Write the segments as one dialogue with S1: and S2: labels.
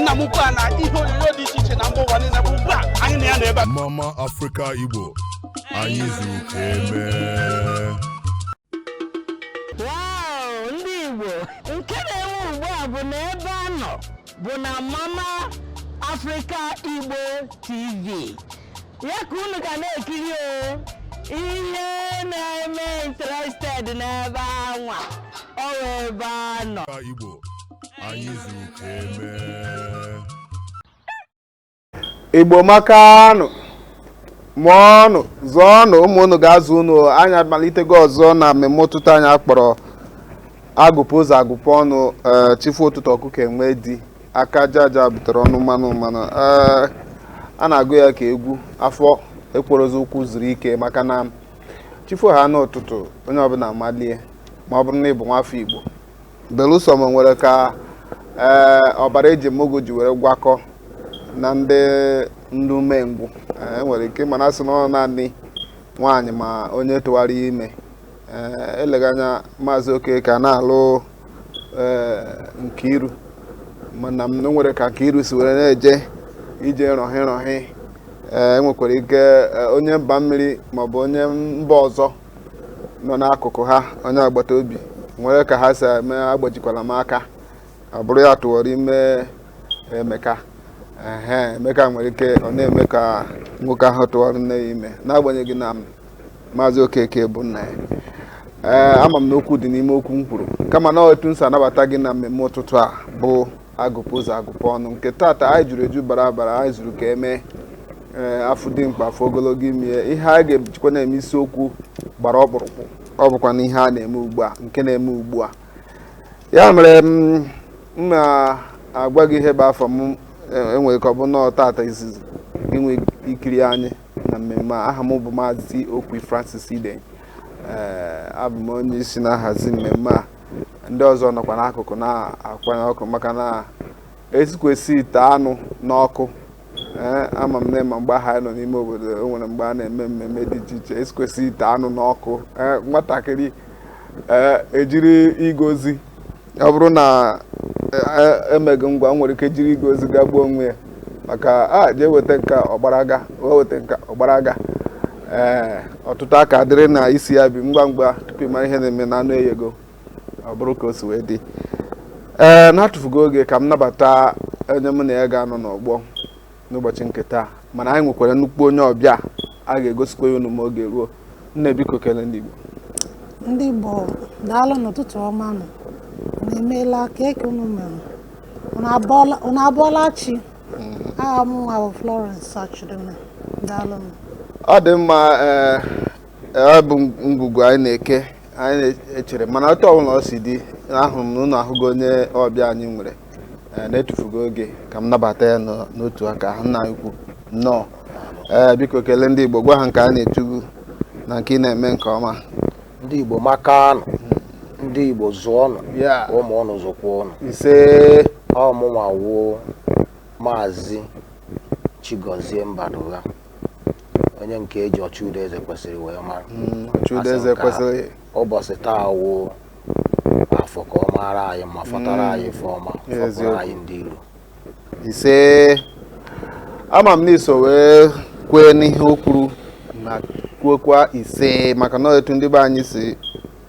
S1: nna m ukwu a na ihe onyonyo dị iche iche na mba ụwa niile bụ ugbu a anyị na ya nọ ebe a mama
S2: afrịka igbo anyị zuru ka
S3: eme Wow, ndị Igbo nke na-ewu ugbu a bụ na ebe a nọ bụ na Mama Africa Igbo TV ya ka unu ga na-ekiri o ihe na-eme interested n'ebe anwa ọ bụ ebe a nọ Afrịka igbo
S2: anyị zuru ka
S4: emee igbo makanụ mụọnụ zụọnụ ụmụ unu ga-azụ unu anyị amalitego ọzọ na mmemme ụtụtụ anyị a kpọrọ agụpụ ụzọ agụpụ ọnụ eh, chi fo ụtụtụ ọkụkọ enwe di aka aja aja butere ọnụ mmanụ mmanụ eh, a na-agụ ya ka egwu afọ ekwerozi ụkwụ zuru ike maka na chi fohaa n'ụtụtụ onye ọbụla amalie ma ọ bụrụ na ị bụ nwafọ igbo belụsọ ma o nwere ka ee ọbara eji mụọ gị ji were gwakọ na ndị ndị umengwụ e nwere ike mana a sị na ọ naanị nwaanyị ma onye tụwara ya ime ee eleghị anya maazị Okeke a na-alụ ee Nkiru mana ma o nwere ka Nkiru si were na-eje ije rọhị rọhị ee enwekwara ike ee, onye mba mmiri maọbụ onye mba ọzọ nọ n'akụkụ ha onye agbata obi nwere ka ha si eme agbajikwala m aka ọ bụrụ ya tụwara ime Emeka ehe Emeka nwere ike ọ na-eme ka nwoke ahụ tụwara nne ya ime n'agbanyeghị na maazị Okeke bụ nna ya ee ama m na okwu dị n'ime okwu m kwuru kama na ọ etu m si anabata gị na mmemme ụtụtụ a bụ agụpụ ụzọ agụpụ ọnụ nke tata anyị juru eju bara abara anyị zuru ka eme eh, a fụ dimkpa a fụ ogologo imi ihe a ga-ejikwa na-eme isiokwu gbara ọkpụrụkpụ ọ bụkwa na ihe a na-eme ugbu a nke na-eme ugbu a ya mere m na-agwa gị ihe bụ afa m eh, enwere ike ọ bụ na ọ tata izizi ị na-ekiri anyị na mmemme a aha m bụ maazị Okwy Francis Ide eh, abụ m onye isi na-ahazi mmemme a ndị ọzọ nọkwa n'akụkụ na-akwanye ọkụ maka na esikwasị ite anụ n'ọkụ ee ama m na ma mgbe ahụ anyị nọ n'ime obodo o nwere mgbe a na-eme mmemme dị iche iche esikwasị ite anụ n'ọkụ ee nwatakịrị ee ejiri ịga ozi ọ bụrụ na e- e- emeghị ngwa nwere ike jiri ịga ozi gagbuo onwe ya maka a jee weta nke a ọ gbara gaa wee weta nke a ọ gbara gaa ee ọtụtụ aka dịrị na isi ya bụ ihe ngwa ngwa tupu ịmara ihe na-eme na anụ eyego ọ bụrụ ka o si wee dị ee na-atụfughị oge ka m nabata onye mụ na ya ga-anọ n'ọgbọ n'ụbọchị nke taa mana anyị nwekwara nnukwu onye ọbịa a ga-egosikwa ya unu ma oge ruo nne biko kelee ndị Igbo ndị
S5: Igbo daalụnụ ụtụtụ ọma nụ unu emeela kee ke unu mere unu abọọla chi mm-hmm. aha mụnwa bụ Florence Achideme daalụnụ ọ dị
S4: mma eh, eh, ọ bụ ngwugwu anyị na-eke anyị na-echere mana otu ọbụla ọ si dị ahụrụ m na unu ahụgo onye ọbịa anyị nwere eh, na-etufughị oge ka m nabata ya n'otu aka ahụ nna ukwu nnọọ ee eh, biko kelee ndị Igbo gwa ha nke a na-etu gụ na nke ị na-eme nke ọma ndị Igbo
S6: makanụ ndị Igbo zụọnụ mụọnụ zụkwanụ
S4: ise ọ
S6: mụnwa wụ maazị Chigozie Mbadụgha onye nke eji ọchụudo eze kwesịrị wee mara hmm, ọchụudo eze
S4: kwesịrị ụbọchị
S6: taa wụ afọ ka ọ maara anyị mma fọtara anyị ife ọma fọpụrụ Eziokwu. anyị ndị iro ise
S4: ama m na i so wee kwee n'ihe o kwuru na kwuokwa ise maka na etu ndị be anyị si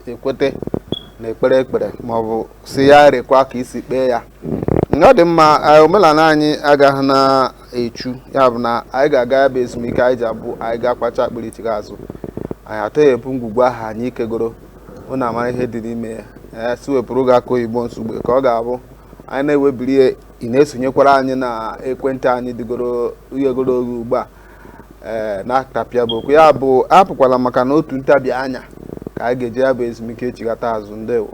S4: ekwete n'ekpere e kpere maọbụ sị ya rekwaa ka i si kpee ya ọ dị mma eh, omenala anyị agaghị na echu ya bụ na anyị ga-aga ya bụ ezumike anyị ji abụ anyị ga-akwacha akpịrị chighaa azụ anyị atọghepụ ngwugwu ahụ anyị kegoro unu amara ihe dị n'ime ya a sị wepụrụ gị akụ oyibo nsogbu ka ọ ga-abụ anyị na-ewebiri ị na-esonyekwara anyị na ekwentị anyị dịgoro ghegoro oghe ugbu a ee eh, na-atapịa bụ okwu ya bụ apụkwala maka na otu ntabi anya ka anyị ga-eji ya bụ ezumike echighata azụ ndewo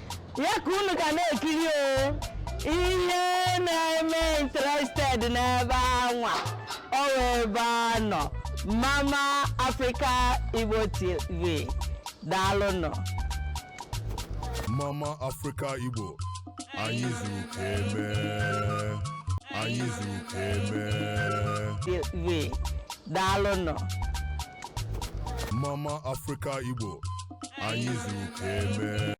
S3: ya ka unu ga na-ekiri o ihe na-eme interested n'ebe anwa ọ wụ ebe a nọ mama africa igbo tv daalụnụ Mama
S2: Africa Igbo anyị zuru ka eme anyị zuru ka eme tv
S3: daalụnụ
S2: Mama Africa Igbo anyị zuru ka
S4: eme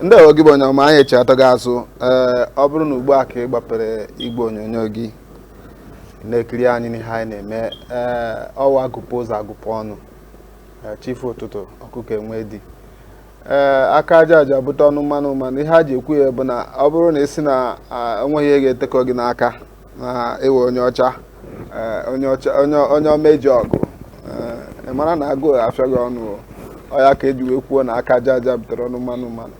S4: ndeewo gị bụ onye ọma anyị echighatago azụ ee ọ bụrụ na ugbu a ka ị gbapere igwe onyonyo gị na-ekiri anyị n'ihe anyị na-eme ee ọ wụ a gụpụ ụzọ a gụpụ ọnụ ee, chi fo ụtụtụ ọkụkọ enwe di ee aka aja aja bute ọnụ mmanụ mmanụ ihe a ji ekwu ya bụ na ọ bụrụ na ị sị na enweghị ihe ga-etekọ gị n'aka na ị wụ onye ọcha onye omeji ọgụ ị mara na agụụ afịa gị ọnụ ọ ya ka eji wee kwuo na aka aja aja butere ọnụ mmanụ mmanụ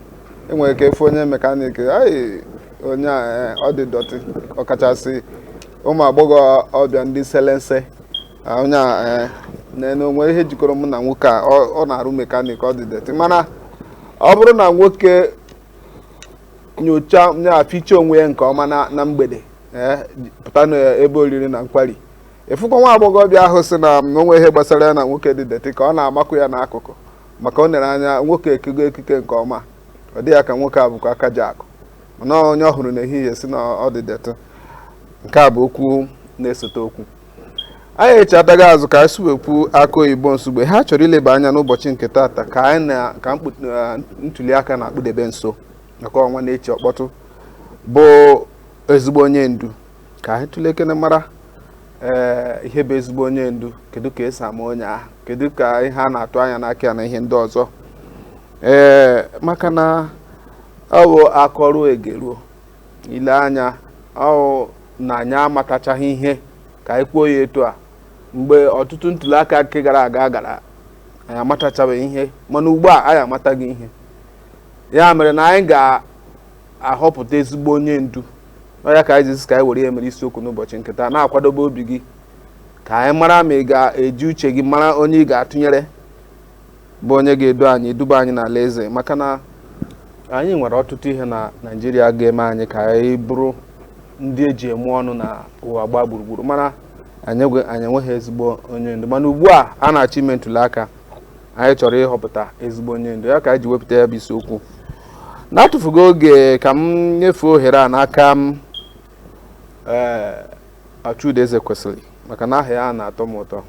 S4: i nwere ike ịfụ onye mekanik anyị onye ọ dị dọtị ọkachasị ụmụ agbọghọ ọbịa ndị selense Ah, onye a eh, na- na o nwere ihe jikọrọ mụ na nwoke a ọ ọ na-arụ mekanik ọ dị dirty mana ọ bụrụ na nwoke nyocha ya fichaa onwe ya nke ọma na na mgbede eh, ji- pụta n'ebe oriri na nkwari ị fụkwa nwa agbọghọbịa ahụ sị na o nwe ihe gbasara ya na nwoke dị dirty ka ọ na-amakụ ya n'akụkụ maka o nere anya nwoke ekego ekike nke ọma ọ dị ya ka nwoke a bụkwa aka ji akụ mana onye ọ hụrụ n'ehihie sị na ọ dị dirty nke a bụ okwu na-esote okwu anyị echighatago azụ ka anyị suwekwu aka oyibo nsogbu a chọrọ ileba anya n'ụbọchị nke taata ka anyị na ka ntuli aka na-akpụdebe nso maka ọnwa na-echi ọkpọtụ bụ ezigbo onye ndu ka anyị tụlekene mara ee eh, ihe bụ ezigbo onye ndu kedu ka e si ama onye ahụ kedu ka ihe a na-atụ anya n'aka ya na ihe ndị ọzọ ee eh, maka na ọ bụ a kọruo e geruo eleghị anya ọ bụ na anyị amatachaghị ihe ka anyị kwuo ya etu a mgbe ọtụtụ ntuli aka nke gara aga gara anyị amatachabeghị ihe mana ugbu a anyị amatago ihe ya mere na anyị ga-ahọpụta ezigbo onye ndu ọ ya ka anyị ji sị ka anyị were ya mere isiokwu n'ụbọchị nke taa na-akwadobe obi gị ka anyị mara ma ị ga-eji uche gị mara onye ị ga-atụnyere bụ onye ga-edu anyị duba anyị n'ala eze maka na anyị nwere ọtụtụ ihe na Naịjirịa ga-eme anyị ka anyị bụrụ ndị e ji eme ọnụ na ụwa gbaa gburugburu mana anyị enweghị ezigbo onye ndu mana ugbu a a na-achọ ime ntuli aka anyị chọrọ ịhọpụta ezigbo onye ndu ya ka anyị ji wepụta ya bụ isiokwu n'atụfughị oge ka m nyefee ohere a n'aka m ee eh, Ochudo Ezekwesili maka na aha ya na-atọ m ụtọ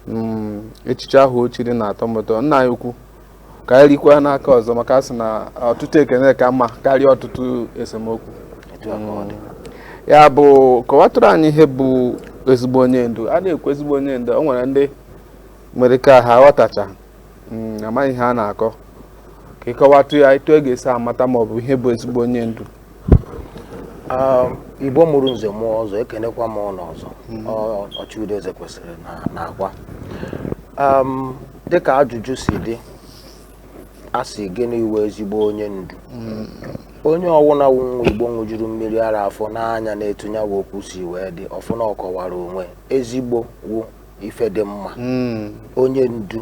S4: hmm, echichi ahụ o chiri na-atọ m ụtọ nna anyị ukwu ka anyị rikwa n'aka ọzọ maka a sị na ọtụtụ ekene ka mma karịa ọtụtụ esemokwu hmm. ya bụ kọwatụrụ anyị ihe bụ ezigbo onye ndu a na-ekwu ezigbo onye ndu o nwere ndị nwere ike ha aghọtacha hmm, amaghị ihe a na-akọ ka ị kọwatụ ya etu a ga-esi amata ma ọ bụ ihe bụ ezigbo onye ndu
S6: um, igbo mụrụ nze mụọ ọzọ ekenekwa m unu ọzọ hmm. Ochudo Ezekwesịrị na agwa um, dịka ajụjụ si dị a sị gịnị wụ ezigbo onye ndu hmm. onye ọwụna wụ nwa igbo ṅụjuru mmiri ara afọ nee anya n'etu nya wụ okwu si wee dị ọ fụ na ọ kọwara onwe ezigbo wụ ife dị mma hmm. onye ndu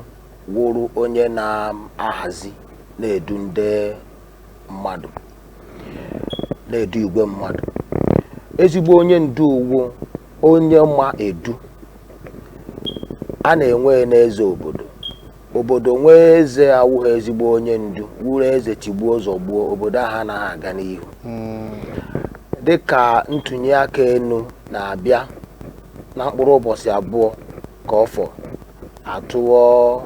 S6: wụrụ onye na-ahazi na-edu ndị mmadụ na-edu igwe mmadụ ezigbo onye ndu wụ onye ma edu a na-enwe n'eze obodo obodo nwee eze awụghị ezigbo onye ndu wụrụ eze tigbuo zọgbuo obodo ahụ anaghị aga n'ihu hmm. dịka ntụnye aka enu na-abịa na mkpụrụ ụbọchị abụọ ka ọ fọ atụọ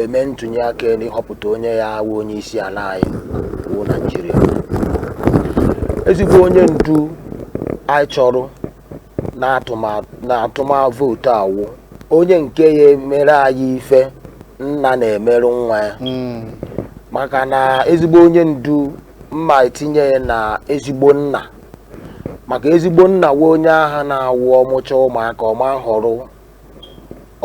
S6: eme ntụnye aka elu ịhọpụta onye ya-awụ onye isi ala anyị wụ naijiria ezigbo onye ndu anyị chọrọ na a tụma- na a tụma vootu a wụ onye nke ya-emere anyị ife nna na-emere nwa ya maka na ezigbo onye ndu m ma-etinye ya na ezigbo nna maka ezigbo nna wụ onye aha na-awụ ọ mụcha ụmụaka ọma họrọ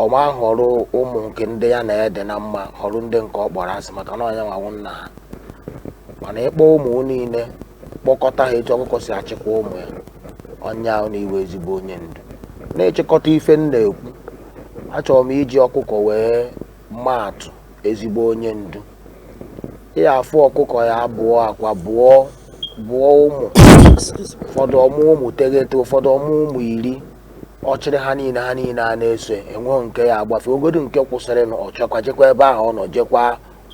S6: ọma họrọ ụmụ nke ndị ya na ha dị na mma họrọ ndị nke ọ kpọrọ asị maka na ọ nya nwa wụ nna ha mana ị kpọ ụmụ niile kpọkọta ha etu ọkụkọ si achịkwa ụmụ ya ọ nya wụ na ị wụ ezigbo onye ndu na nchịkọta ife m na-ekwu achọrọ m iji ọkụkọ wee maa atụ ezigbo onye ndu ị ya-afụ ọkụkọ ya bụọ akwa bụọ bụọ ụmụ ụfọdụ ọ mụ ụmụ teghete ụfọdụ ọ mụ ụmụ iri ọ chịrị ha niile ha niile a na-eso enweghị nke ya-agbafe ogodo nke kwụsịrị na ọ chọkwa jekwa ebe ahụ ọ nọ jekwa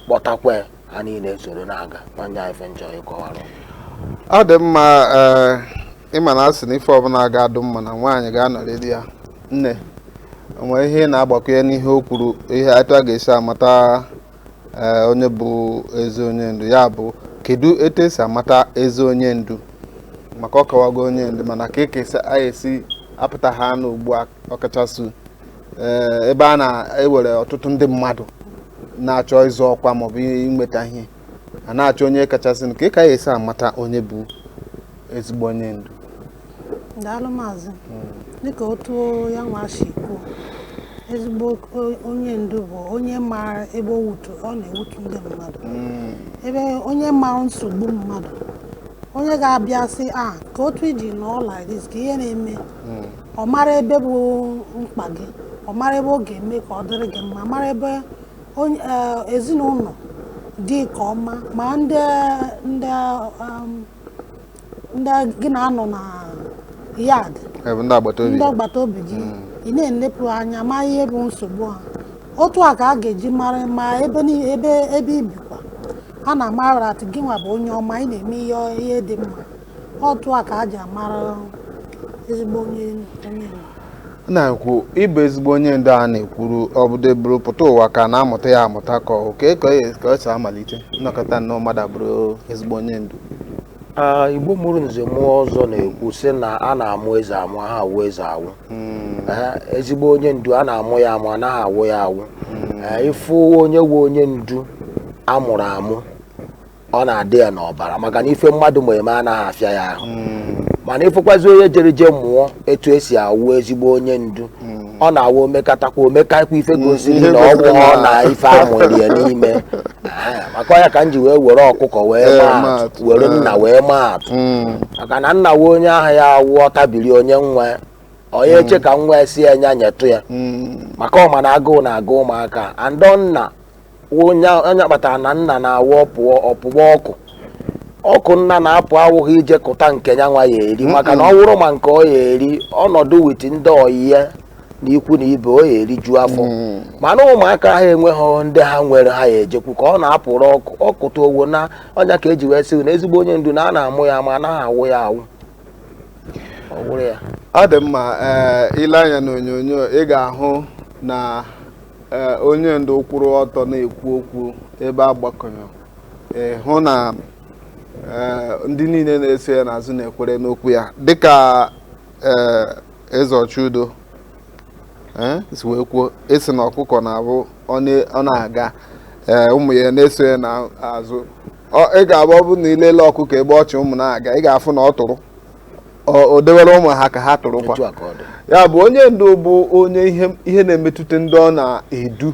S6: kpọtakwa ha niile soro na-aga ma nya ife m chọ ịkọwara ọ
S4: dị mma eh, ị ma na a sị na ife ọbụla ga-adụ mma na nwaanyị ga-anọrịrị ya nne o nwere ihe ị na-agbakwunye n'ihe o kwuru ihe etu a ga-esi amata Eh, onye bụ ezi onye ndu ya bụ kedu etu esi amata ezi onye ndu maka ọ kọwago onye ndu mana kee ka a ya-esi apụta ha na ugbu a ọkachasị eh, ebe a na e nwere ọtụtụ ndị mmadụ na-achọ ịzọ ọkwa maọbụ inweta ihe a na-achọ onye kachasị kee ka a ya-esi amata onye bụ ezigbo onye ndu
S5: daalụ maazị dịka otu ya nwa si kwuo ezigbo onye ndu bụ onye maara ebe ọ na-ewutu ndị mmadụ hmm. ebe onye maara nsogbu mmadụ onye ga-abịa sị a ah, ka otu i ji nọọ like this kee ihe na-eme hmm. ọ mara ebe bụ mkpa gị ọ mara ebe ọ ga-eme ka ọ dịrị gị mma mara ebe eh, ezinụlọ dị ka ọ ma ma ndị ndị um, ndị gị na-anọ na yard ndị agbata obi gị hmm. ị na-enepụ anya ma ihe bụ nsogbu ha otu a ka a ga-eji mara ma ebe ebe ebe i bikwa a na-amara a sị gị nwa bụ onye ọma ị na-eme ihe ihe dị mma otu a ka a ji amara ezigbo onye onye
S4: na-ekwu ịbụ ezigbo onye ndu a na-ekwuru ọ bụdụ buru pụta ụwa ka a na-amụta ya amụta ka ọ wụ kee ka o si amalite nọkata nnọọ mmadụ abụrụ ezigbo onye ndu igbo
S6: mụrụ nze mụọ ọzọ na-ekwu sị na a na-amụ eze amụ a ha awụ eze awụ hmm. ezigbo onye ndu a na-amụ ya amụ anaghị awụ ya awụ hmm. ị fụ onye wụ onye ndu a mụrụ amụ ọ na-adị ya n'ọbara maka na ife mmadụ ma eme anaghị afịa ya ahụ hmm. mana ị fụkwazi onye jere je mụọ etu e si awụ ezigbo onye ndu hmm. ọ na-awụ o mekatakwa o mekakwa ife hmm. gosiri na ọ wụghị na ife a mụrụ ya n'ime maka ya ka m ji wee were ọkụkọ wee were nna wee maa atụ maka na nna wụ onye ahụ ya awụ ọ tabiri o nye nwa ọ naghị eche ka nwa sị ya nya nyetụ ya maka ọ ma na agụụ na-agụ ụmụaka and nna ọ nya kpatara na nna na-awụ ọ pụọ ọ pụwa ọkụ ọkụ nna na-apụ awụghị ije kụta nke ya nwa ya eri maka na ọ wụrụ ma nke ọ ya eri ọ nọdụ with ndị ọyị ya na ikwu na ibe ọ ya eriju afọ mana ụmụaka ha enweghị ndị ha nwere ha ya ejekwu ka ọ na-apụrụ ọkụ ọ kụta o wona ọ nya ka e ji wee sị na ezigbo onye ndu na a na-amụ ya amụ anaghị awụ ya awụ ọ dị
S4: mma eh, i lee anya n'onyonyo ị ga-ahụ na eh, onye ndu kwụrụ ọtọ na-ekwu okwu ebe a gbakọrọ hụ na eh, ndị niile na-eso ya n'azụ na-ekwere n'okwu ya dịka eze ọchụudo si wee kwuo ị sị na ọkụkọ na-abụ ọ na-aga ụmụ ya na-eso ya n'azụ ị ga-abụ ọ bụ na i lele ọkụkọ ebe ọ chị ụmụ na-aga ị ga-afụ na ọ tụrụ o dewere ụmụ ha ka ha tụrụkwa ya bụ onye ndu bụ onye ihe na-emetụta ndị ọ na-edu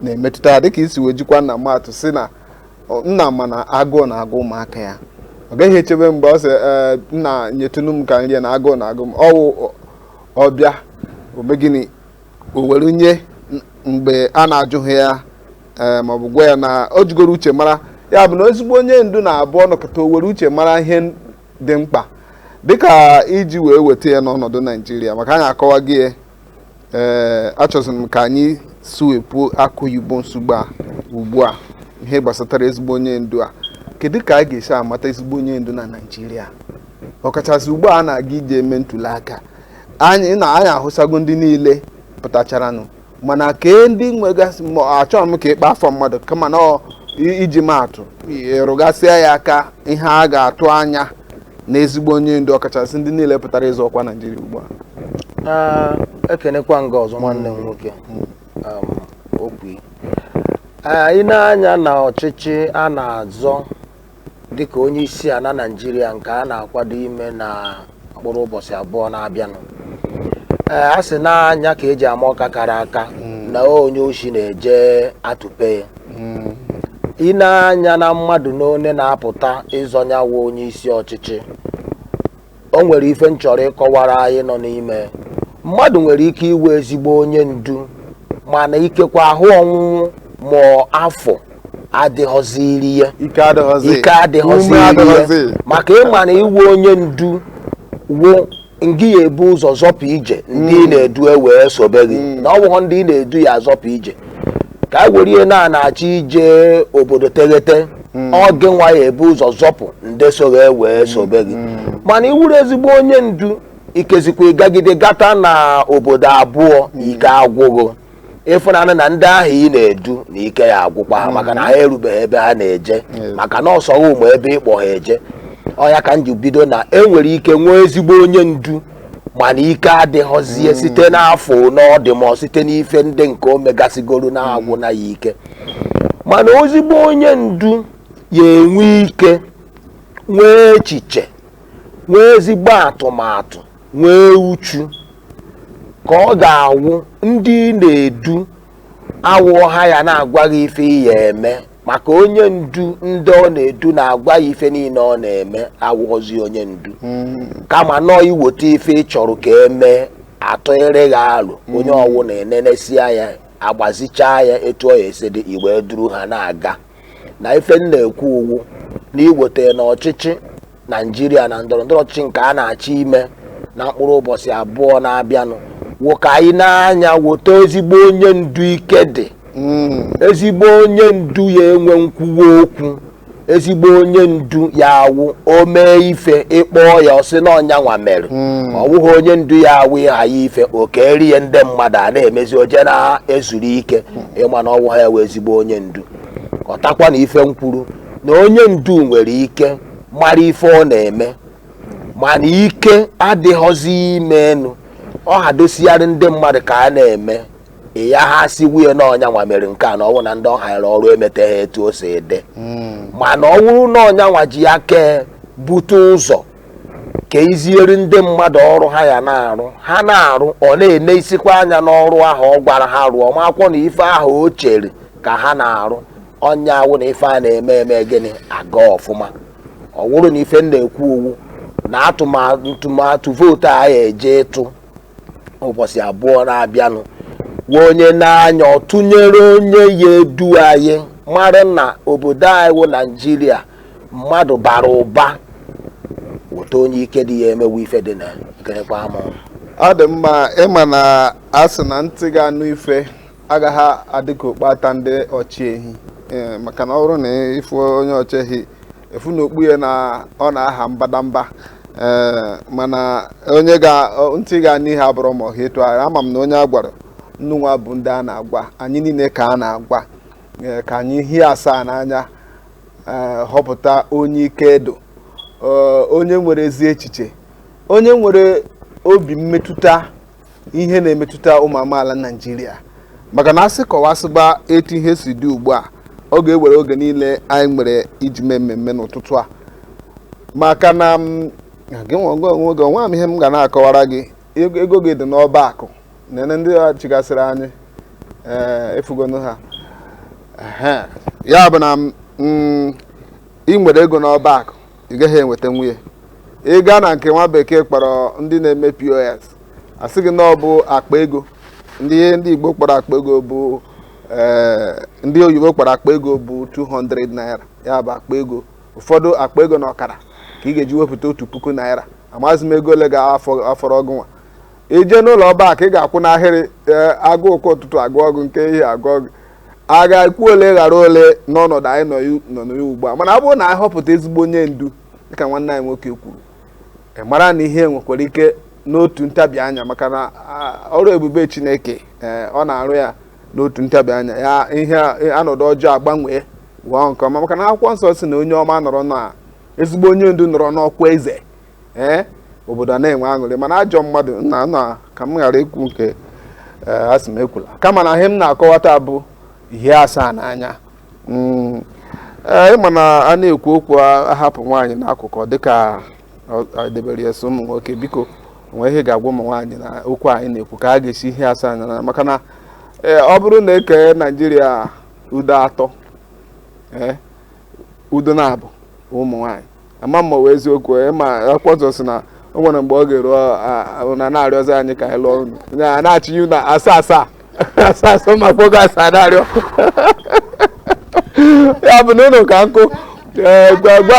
S4: na-emetụta ya dịka i si wee jikwa nna maa atụ sị na nna ma na agụụ na-agụ ụmụaka ya ọ gaghị echebe mgbe ọ sị nna nyetụnụ m ka m rie na agụụ na-agụ m ọ wụ ọ bịa o mee gịnị o were nye mgbe a na-ajụghị ya ee ma ọ bụ gwa ya na o jigoro uche mara ya bụ na ezigbo onye ndu na-abụ ọ nọkata o were uche mara ihe n- dị mkpa dịka i ji wee weta ya n'ọnọdụ naijiria maka anyị akọwa gị ya ee achọziri m ka anyị suwepụ akụ oyibo nsogbu a ugbu a ihe gbasatara ezigbo onye ndu a kedu ka a ga-esi amata ezigbo onye ndu na naijiria ọkachasị ugbu a a na-aga ije eme ntuli aka anyị na anyị ahụsago ndị niile pụtacharanụ mana kee ndị nwegasị ma achọrọ m ka ị kpọọ afa mmadụ kama na ọ- i- iji maa atụ ị rụgasịa ya aka ihe a ga-atụ anya na ezigbo onye ndu ọkachasị ndị niile pụtara ịzọ ọkwa naijiria ugbu a
S6: Ah, ekenekwa m gị ọzọ nwanne m nwoke um, okwu i nee anya na ọchịchị a na-azọ dịka onye isi ala Naịjirịa nke a na-akwado ime na mkpụrụ ụbọchị abụọ na-abịanụ ee a sị na anya ka eji ama ọka kara aka na onye oshi na-eje atụpe ya Mm. i nee anya na mmadụ n'one na-apụta ịzọ nyawa onye isi ọchịchị o nwere ife m chọrọ ịkọwara anyị nọ n'ime mmadụ nwere ike ịwụ ezigbo onye ndu mana ikekwa ahụ ọnwụnwụ ma afọ adịghọziri ya ike adịghọziri ya maka ị ma na ịwụ onye ndu wụ ngị ya ebu ụzọ zọpụ ije ndị ị na-edu e wee sobe gị na ọ bụghọ ndị ị na-edu ya azọpụ ije ka e were ya na a na-achọ ije obodo teghete hmm. ọ gị nwa ya ebu ụzọ zọpụ ndị so gị wee hmm. sobe gị hmm. mana ị wụrụ ezigbo onye ndu ikezikwa ị gagide gata na obodo abụọ ike agwụ gị ị fụnanụ na ndị ahụ ị na-edu na ike ya agwụkwa ha maka na ha erubeghị ebe ha na-eje maka na ọ sọ gị ma ebe ị kpọ ha eje ọ ya ka m ji bido na enwere ike nwee ezigbo onye ndu mana ike adịghọzie hmm. site n'afọ one ọ dị mọ site n'ife ndị nke o megasịgoro na-agwụ hmm. na ya ike mana ezigbo onye ndu ya enwe ike nwee echiche nwee ezigbo atụmatụ nwee uchu ka ọ ga-awụ ndị ị na-edu awụghọ ha ya na-agwa gị ife ị ya eme maka onye ndu ndị ọ na-edu na-agwa ya ife niile ọ na-eme awụghọzi onye ndu hmm. kama nọọ i weta ife ị chọrọ ka e mee atụnyere gị alo onye hmm. ọwụna enenesia ya agbazichaa ya etu ọ ya esi dị i wee duru ha na-aga na ife m na-ekwu wụ na i weta na ọchịchị Naịjirịa na ndọrọ ndọrọ ọchịchị nke a na-achọ ime na mkpụrụ ụbọchị abụọ na-abịanụ wụ ka anyị nee anya weta ezigbo onye ndu ike dị Mm. ezigbo onye ndu ya enwe nkwuwa okwu ezigbo onye ndu ya awụ o mee ife ị kpọọ ya ọ sị na ọ nyanwa mere Mm. ọ bụghị onye ndu ya awụ ị hanye ya ife o kerie ndị mmadụ a na-emezi o je na-ezuru ike ị ma na ọ wụghọ ya wụ ezigbo onye ndu ghọtakwa na ife m kwuru na onye ndu nwere ike mara ife ọ na-eme mana ike adịghọzi ime enu ọ hadosigharị ndị mmadụ ka a na-eme ya ha si wuye na ọ nyanwa mere nke a na ọ wụ na ndị ọ hanyere ọrụ emeteghị etu o si dị mana ọ bụrụ na ọ nyanwa ji aka bute ụzọ kuziere ndị mmadụ ọrụ ha ya na-arụ ha na-arụ ọ na-enesikwa anya n'ọrụ ahụ ọ gwara ha rụọ ma ọ wụkwanụ ife ahụ o chere ka ha na-arụ ọ nya awụ na ife a na-eme eme gịnị aga ọfụma ọ wụrụ na ife m na-ekwu ọ wụ na atụmatụ vootu a ya eje ịtụ ụbọchị abụọ na-abịanụ wee onye n'anya ọ tụnyere onye ya edu anyị mara na obodo anyị wụ naijiria mmadụ bara ụba weta onye ike dị ya emewe ife dị na gịnịkwa ama ọ dị mma
S4: ị ma na a sị na ntị ga-anụ ife agaghị adị ka okpu ata ndị ọchị ehi ee, maka na ọ bụrụ na ị fụ onye ọchị ehi ị fụ na okpu ya na ọ na-aha mbadamba ee mana onye ga ọ- ntị ga-anụ ihe abụrọ ma ọ ha etu ahụ ama m na onye a gwara nnụnwa bụ ndị a na-agwa anyị niile ka a na-agwa ee, ka anyị hie asaa n'anya ee, họpụta onye ike idu ee, onye nwere ezi echiche onye nwere obi mmetụta ihe na-emetụta ụmụ amaala Naịjirịa maka na a sị kọwasịba etu ihe si dị ugbu a ọ ga-ewere oge niile anyị nwere iji mee mmemme n'ụtụtụ a maka na mm, gị nwa onwe onwe gị onwe m ihe m ga na-akọwara gị ego ego gị dị n'ọba akụ nene ndị a chịgasịrị anyị ee efugonu ha Ehe. ya bụ na mm, ị nwere ego n'ọba akụ ị gaghị enwetanwu ya ị gaa na nke nwa bekee kpọrọ ndị na-eme pos a sị gị na ọ bụ akpa ego ndị ndị igbo kpọrọ akpa ego bụ eh, ndị oyibo kpọrọ akpa ego bụ 200 naira ya bụ akpa ego ụfọdụ akpa ego na ọkara ka ị ga-eji wepụta otu puku naira amaghịzi m ego ole ga-afọrọ gị nwa ị je n'ụlọ ọba akụ ị ga-akwụ n'ahịrị eh, agụụ nke ụtụtụ agụọ gị nke ehihie agụọ gị a ga-ekwu ole ghara ole n'ọnọdụ anyị nọ na ya ugbu a mana ọ bụrụ na anyị họpụta ezigbo onye ndu dịka nwanne anyị nwoke kwuru e mara na ihe nwekwara ike n'otu ntabi anya maka na ọrụ ebube Chineke e, ọ na-arụ ya n'otu ntabi anya ya ihe ọnọdụ ọjọọ agbanwee wụọ nke ọma maka na akwụkwọ nsọ sị na onye ọma nọrọ na ezigbo onye ndu nọrọ n'ọkwa eze ee eh, obodo a na-enwe aṅụrị mana ajọ mmadụ na na ka m ghara ikwu nke eh, a sị m ekwula kama na ihe m na-akọwata bụ hie asaa n'anya hmm, eh, ị ma na a na-ekwu okwu ahapụ nwaanyị n'akụkụ dịka e debere ya sọ ụmụ nwoke biko o nwe ihe ị ga-agwa ụmụ nwaanyị na okwu anyị na-ekwu ka a ga-esi hie asaa n'anya maka na ọ bụrụ na e kee naijiria ụzọ atọ ụzọ naabọ ụmụ nwaanyị ama m ma ọ wụ eziokwu ị ma akwụkwọ nsọ sị na o nwere mgbe ọ ga-eru unu a na-arịọzi anyị ka anyị lụọ unu a na-achịnye na asaa asaa asaa asaa ma kpogo asaa na-arịọ ya bụ na unu ka nkụ ee gwa gwa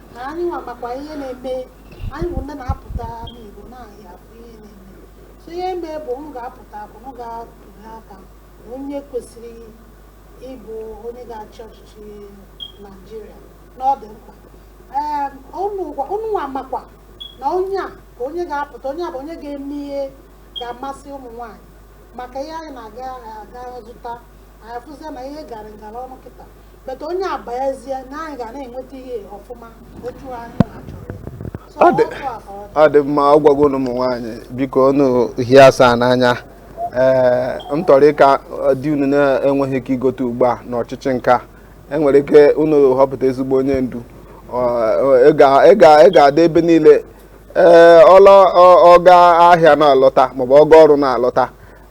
S5: na anyị nwa makwa ihe na-eme anyị bụ ndị na-apụta n'Igbo n'ahịa afụ ihe na-eme so ihe mee bụ unu ga-apụta bụ unu ga-atụli aka na onye kwesịrị ịbụ onye ga-achị ọchịchị Naijiria na ọ dị mkpa ee unu nwa makwa na onye a ka onye ga-apụta onye a bụ onye ga-eme ihe ga-amasị ụmụ nwaanyị maka ihe anyị na-aga aga zụta anyị afụzie na ihe gara ngara ọnụ kịta but onye a bayazie na anyị ga na-enweta ihe ọfụma otu anyị na-achọrọ ya. So, Ọ dị- ọkụ a ka ọ dị. ọ dị mma ọ gwago
S4: ụmụ nwaanyị biko unu hie asaa n'anya ee ntọrịka di unu na-enweghị ike igote ugbu a n'ọchịchị nke a enwere ike unu họpụta ezigbo onye ndu Ọ- ọ- ị ga- ị ga- ị ga-adị ebe niile ee ọlọ ọ- ọ gaa ahịa na-alọta maọbụ ọ gaa ọrụ na-alọta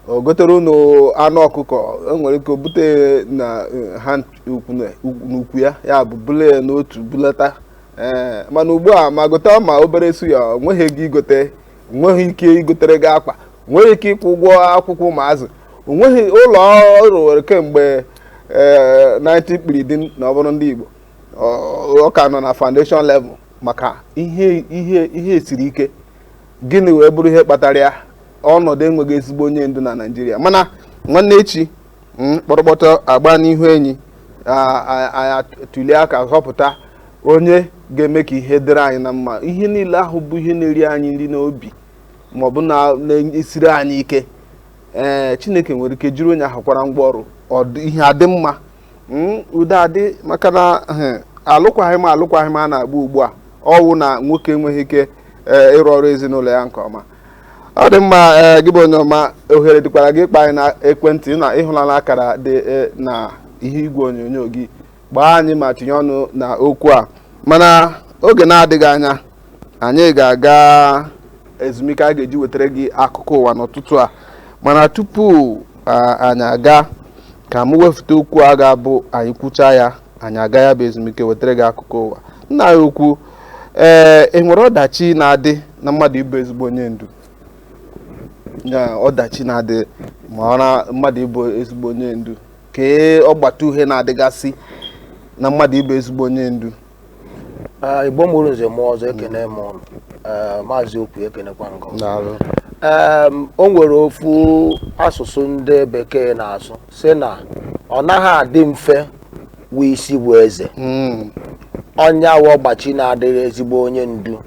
S4: o gotere unu anụ ọkụkọ enwere ike o bute na eh, ha ukwu na- ukwu- n'ukwu ya ya bụ bule ya n'otu bulata ee mana ugbu a ma gota ma obere suya o nweghị ego igote nweghị ike igotere gị akpa nweghị ike ịkwụ ụgwọ akwụkwọ ụmụazụ o nweghị ụlọ ọ rụwere kemgbe ee 19 kpiridim na ọ bụrụ ndị Igbo ọ ọ ka nọ na foundation level maka ihe ihe ihe siri ike gịnị wee bụrụ ihe kpatara ya ọnọdụ enweghị ezigbo onye ndu na naijiria mana nwanne echi mm, kpọrọkpọtọ agba n'ihu enyi anyị tụlie aka họpụta onye ga-eme ka ihe dịrị anyị na mma ihe niile ahụ bụ ihe na-eri anyị nri n'obi maọbụ na-esiri anyị ike ee chineke nwere ike jiri onye ahụ kwara ngwa ọrụ ihe adị mma Hmm, udo adị maka na eh, alụkwaghị m alụkwaghị m a na-agba ugbu a ọ wụ na nwoke enweghị ike eh, ịrụ ọrụ ezinụlọ ya nke ọma ọ dị mma eh, gị bụ onye ọma ohere dịkwara gị ịkpọ anyị na ekwentị na ị hụlala akara dị na ihu igwe onyonyo gị kpọọ anyị ma tinye ọnụ na okwu a mana oge na-adịghị anya anyị ga-aga ezumike a ga-eji wetara gị akụkọ ụwa n'ụtụtụ a mana tupu anyị aga ka m wefute okwu a ga-abụ anyị kwucha ya anyị aga ya bụ ezumike wetara gị akụkọ ụwa nna anyị ukwu ee eh, enwere ọdachi na-adị na mmadụ ịbụ ezigbo onye ndu na ọdachi na-adị ma ọ na mmadụ ịbụ ezigbo onye ndu kee ọgbata uhie na-adịgasị na mmadụ ịbụ ezigbo onye ndu
S6: Ee, igbo mụrụ nze mụọ ọzọ ekene m ụnụ Ee, maazị okwu ekenekwa m gị o daalụ Em, o nwere ofu asụsụ ndị bekee na-asụ sị na ọ naghị adị mfe wụ isi bu eze Mm, ọ ya wụ ọgbachi na-adịrị ezigbo onye ndu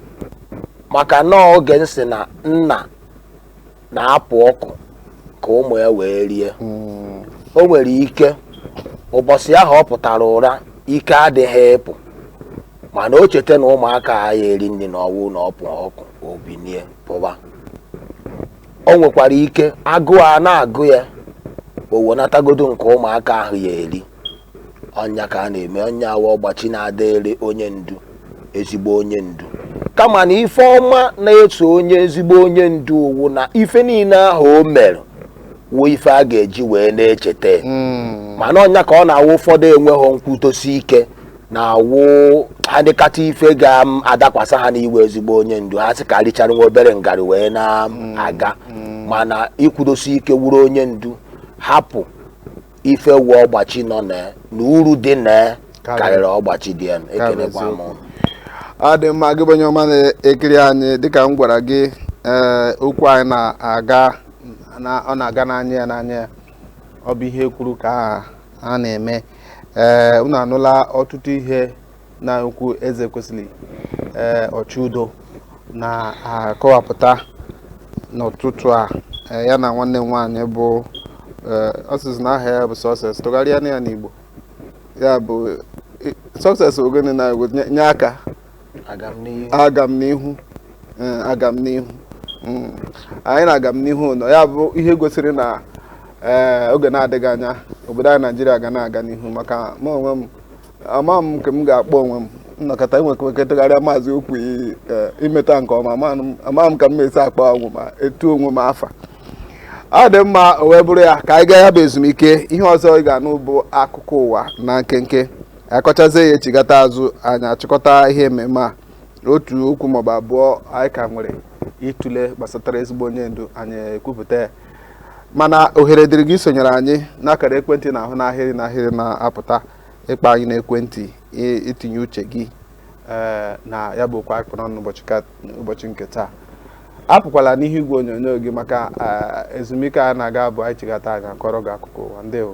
S6: maka na oge m sị na nna na-apụ ọkụ ka ụmụ ya wee rie o nwere ike ụbọchị ahụ ọ pụtara ụra ike adịghị ịpụ mana o cheta na ụmụaka a ya eri nri na ọ wụ na ọ pụ ọkụ o binie pụwa o nwekwara ike agụụ a na-agụ ya o wenatagodu nke ụmụaka ahụ ya eri ọ nya ka a na-eme ọ nya wụ ọgbachi na-adịrị onye ndu ezigbo onye ndu kama na ife ọma na-eso onye ezigbo onye ndu wụ na ife niile ahụ o mere wụ ife a ga-eji wee na-echeta ya. Mm. mana ọ nya ka ọ na-awụ ụfọdụ enweghị nkwudosi ike na-awụ ha nekata ife ga-adakwasa ha n'ịwụ ezigbo onye ndu ha sị ka richara nwa obere ngarị wee na-aga mana ikwudosi ike wụrụ onye ndu hapụ ife wụ ọgbachi nọ na ya na uru dị na ya Karịrị. karịrị ọgbachi dị ya ekelekwa m eziokwu. ụnụ ọ dị
S4: mma gị bụ onye ọma na-ekiri anyị dịka m gwara gị ee okwu anyị na-aga na- ọ na-aga n'anya ya n'anya ya ọ bụ ihe e kwuru ka a- a na-eme ee unu anụla ọtụtụ ihe nna ukwu Ezekwesịrị ee Ọchụudo na-akọwapụta n'ụtụtụ a ee, ya na nwanne m nwaanyị bụ ee, ọ sịzi na aha ya bụ Success tụgharịanụ ya n'igbo ya bụ i- Success ọ gịnị na igbo nye- nye aka agamnihu agamnihu ee, agamnihu Mm. anyị na Agamnihu nọ ya bụ ihe gosiri na ee, oge na-adịghị anya obodo anyị naijiria ga na-aga n'ihu maka mụ onwe m ama m nke m ga-akpọ onwe m nnọkọta enwekọtagharịa maazị okwu imeta nke ọma ama m ka m esi akpọ onwe ma etu onwe m afa ọ dị mma o wee bụrụ ya ka anyị gaa ya bụ ezumike ihe ọzọ ị ga-anụ bụ akụkọ ụwa na nkenke a kọchazie ya e chigata azụ anyị achịkọta ihe mmemme a otu okwu maọbụ abụọ anyị ka nwere ịtụle gbasatara ezigbo onye ndu anyị ekwupụta ya mana ohere dịrị gị isonyere anyị n'akara ekwentị ị na-ahụ n'ahịrị n'ahịrị na-apụta ịkpọ anyị n'ekwentị itinye uche gị eh, na ya bụ okwu anyị kpụ n'ọnụ ụbọchị nke taa apụkwala n'ihu igwe onyonyo gị maka eh, ezumike a na-aga bụ anyị chigata anyị akọrọ gị akụkọ ụwa ndewo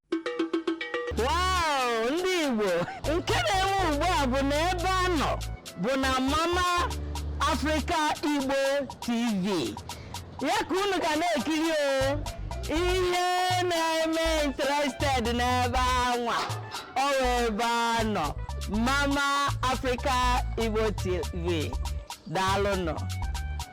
S3: ndị Igbo nke na-eme ugbu a bụ na ebe a nọ bụ na Mama Africa Igbo TV ya ka unu ga na-ekiri o ihe na-eme interested n'ebe anwa ọ ebe a nọ Mama Africa Igbo TV daalụnụ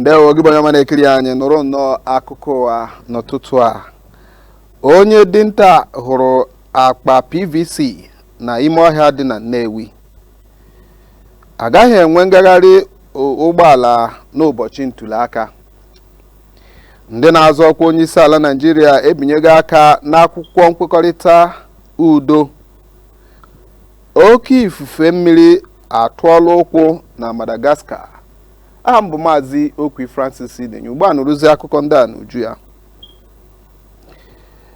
S4: ndewo gị bụ onye ọma na-ekiri anyị nụrụ nnọọ akụkọ ụwa n'ụtụtụ a onye dinta hụrụ akpa pvc na ime ọhịa dị na nnewi agaghị enwe ngagharị ụgbọala n'ụbọchị ntuliaka ndị na-azọ ọkwa onye isi ala naijiria ebinyego aka n'akwụkwọ nkwekọrịta udo oke ifufe mmiri atụọla ụkwụ na Madagascar aha m bụ maazị Okwi Francis Idenye ugbu a nụrụzi akụkọ ndị a n'uju ya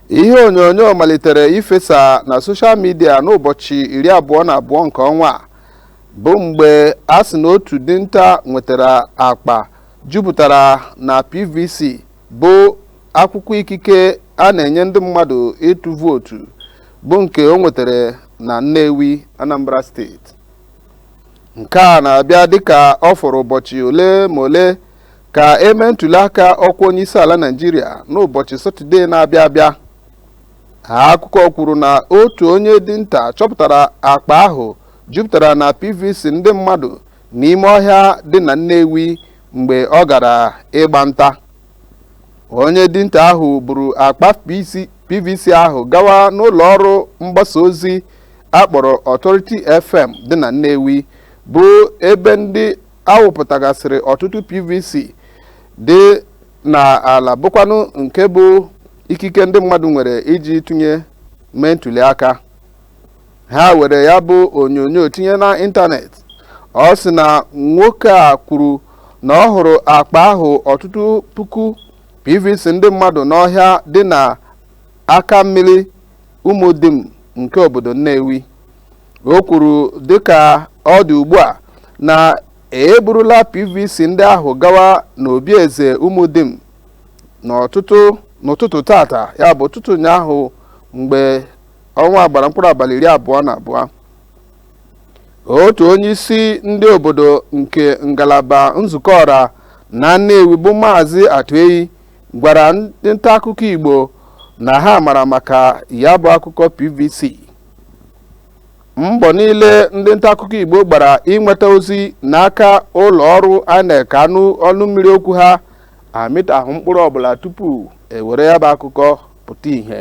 S4: ihe onyonyo malitere ifesa na soshal midia n'ụbọchị iri abụọ na abụọ nke ọnwa a bụ mgbe a sị na otu dinta nwetara akpa jupụtara na PVC bụ akwụkwọ ikike a na-enye ndị mmadụ ịtụ vootu bụ nke o nwetara na Nnewi Anambra steeti nke a na-abịa dịka ọ fọrọ ụbọchị ole ma ole ka e mee ntụliaka ọkwa onyeisiala Naịjirịa n'ụbọchị Satọde na-abịa abịa akụkọ kwuru na otu onye dinta chọpụtara akpa ahụ jupụtara na PVC ndị mmadụ n'ime ọhịa dị na Nnewi mgbe ọ gara ịgba nta onye dinta ahụ buru akpa pvc ahụ gawa n'ụlọ ọrụ mgbasa ozi a kpọrọ Authority FM dị na Nnewi bụ ebe ndị a wụpụtagasịrị ọtụtụ pvc dị n'ala bụkwanụ nke bụ ikike ndị mmadụ nwere iji tụnye mee ntuli aka ha were ya bụ onyonyo tinye na ịntanetị ọ sị na nwoke a kwuru na ọ hụrụ akpa ahụ ọtụtụ puku pvc ndị mmadụ n'ọhịa dị na akammiri ụmụdim nke obodo nnewi o kwuru dịka ọ dị ugbu a na e burula pvc ndị ahụ gawa n'obi eze ụmụdim n'ụtụtụ tata ya bụ ụtụtụ ụnyaahụ mgbe ọnwa a gbara mkpụrụ abalị iri abụọ na abụọ otu onye isi ndị obodo nke ngalaba nzukọ ọra na Nnewi bụ maazị Atueyi gwara ndị nta akụkọ Igbo na ha mara maka ya bụ akụkọ PVC mbọ niile ndị nta akụkọ Igbo gbara inweta ozi n'aka ụlọ ọrụ INEC ka a nụ ọnụ mmiri okwu ha amịtahụ mkpụrụ ọbụla tupu e were ya bụ akụkọ pụta ìhè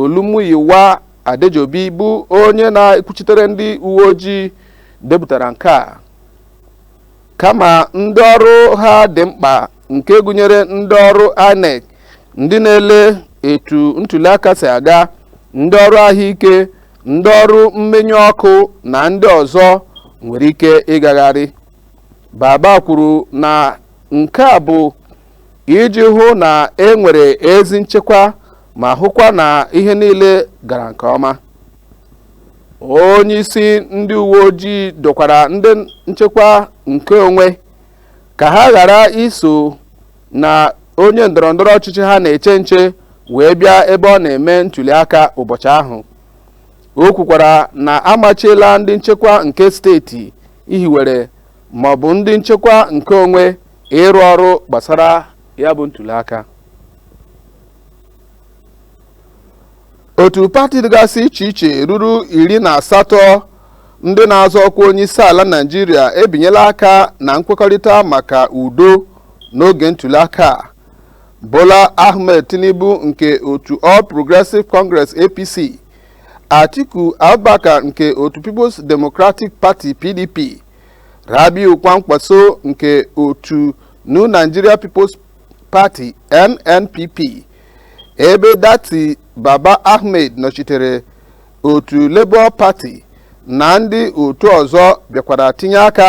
S4: Olumuyiwa Adejobi bụ onye na-ekwuchitere ndị uwe ojii depụtara nke a kama ndị ọrụ ha dị mkpa nke gụnyere ndị ọrụ INEC ndị na-ele etu ntuliaka si aga ndị ọrụ ahụike ndị ọrụ mmenyụ ọkụ na ndị ọzọ nwere ike ịgagharị Baba kwuru na nke a bụ iji hụ na e nwere ezi nchekwa ma hụkwa na ihe niile gara nke ọma onye isi ndị uwe ojii dọkwara ndị nchekwa nke onwe ka ha ghara iso na onye ndọrọ ndọrọ ọchịchị ha na-eche nche wee bịa ebe ọ na-eme ntuli aka ụbọchị ahụ o kwukwara na a machiela ndị nchekwa nke steeti hiwere ma ọ bụ ndị nchekwa nke onwe ịrụ ọrụ gbasara ya bụ ntuli aka otu pati dịgasị iche iche ruru iri na asatọ ndị na-azọ ọkwa onye isi ala naijiria ebinyela aka na nkwekọrịta maka udo n'oge ntụliaka a bola ahmed tinubu nke otu all progressive congress apc atiku abubakar nke otu peoples democratic party pdp rabiu kwankwaso nke otu new nigeria peoples Party NNPP ebe Datti Baba Ahmed nọchitere otu Labour Party na ndị otu ọzọ bịakwara tinye aka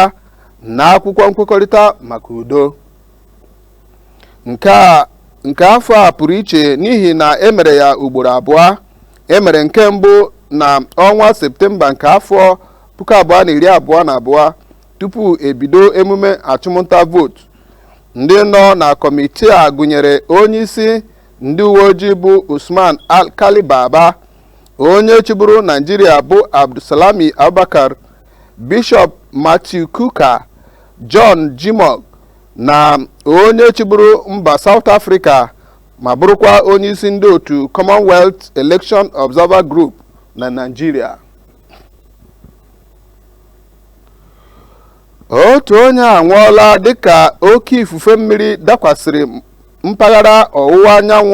S4: na akwụkwọ nkwekọrịta maka udo nke afọ a pụrụ iche n'ihi na e mere ya ugboro abụọ e mere nke mbụ na ọnwa septemba nke afọ puku abụọ na iri abụọ na abụọ tupu e bido emume achụmnta vootu Ndị nọ na kọmitii a gụnyere onyeisi ndị uwe ojii bụ Usman Alkali Baba, onye chịburu Naijiria bụ Abdulsalami Abubakar, Bishọp Matthew Kukah, John Jimoh na onye chịburu mba South Africa ma bụrụkwa onyeisi ndị otu Commonwealth Election Observer Group na Naijiria. otu onye anwụọla dịka oke ifufe mmiri dakwasịrị mpaghara ọwụwa anyanwụ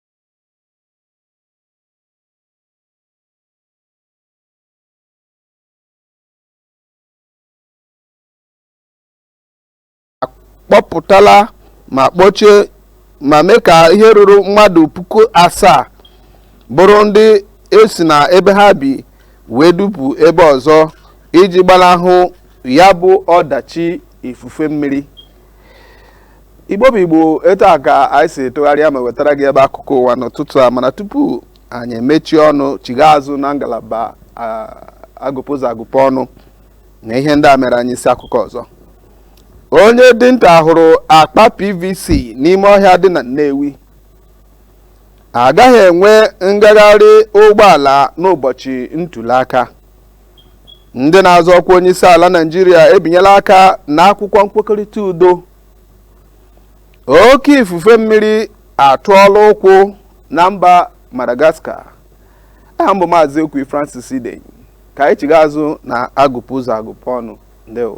S4: kpọpụtala ma kpọchie ma mee ka ihe ruru mmadụ puku asaa bụrụ ndị esi na ebe ha bi wee dupu ebe ọzọ iji gbanahụ ya bụ ọdachi ifufe mmiri igbo bụ igbo etu a ka anyị si tụgharịa ma wetara gị ya bụ akụkọ ụwa n'ụtụtụ a mana tupu anyị emechie ọnụ chighaa azụ na ngalaba agụpụ ụzọ agụpụ ọnụ na ihe ndị a mere anyị isi akụkọ ọzọ onye dinta hụrụ akpa pvc n'ime ọhịa dị na nnewi agaghị enwe ngagharị ụgbọala n'ụbọchị ntuli aka ndị na-azọ ọkwa onyeisi ala naijiria ebinyela aka na akwụkwọ nkwekọrịta udo oke ifufe mmiri atụọla ụkwụ na mba madagascar aha m bụ maazị okwu francis idey ka anyị chighaa azụ na agụpụ ụzọ agụpụ ọnụ ndewo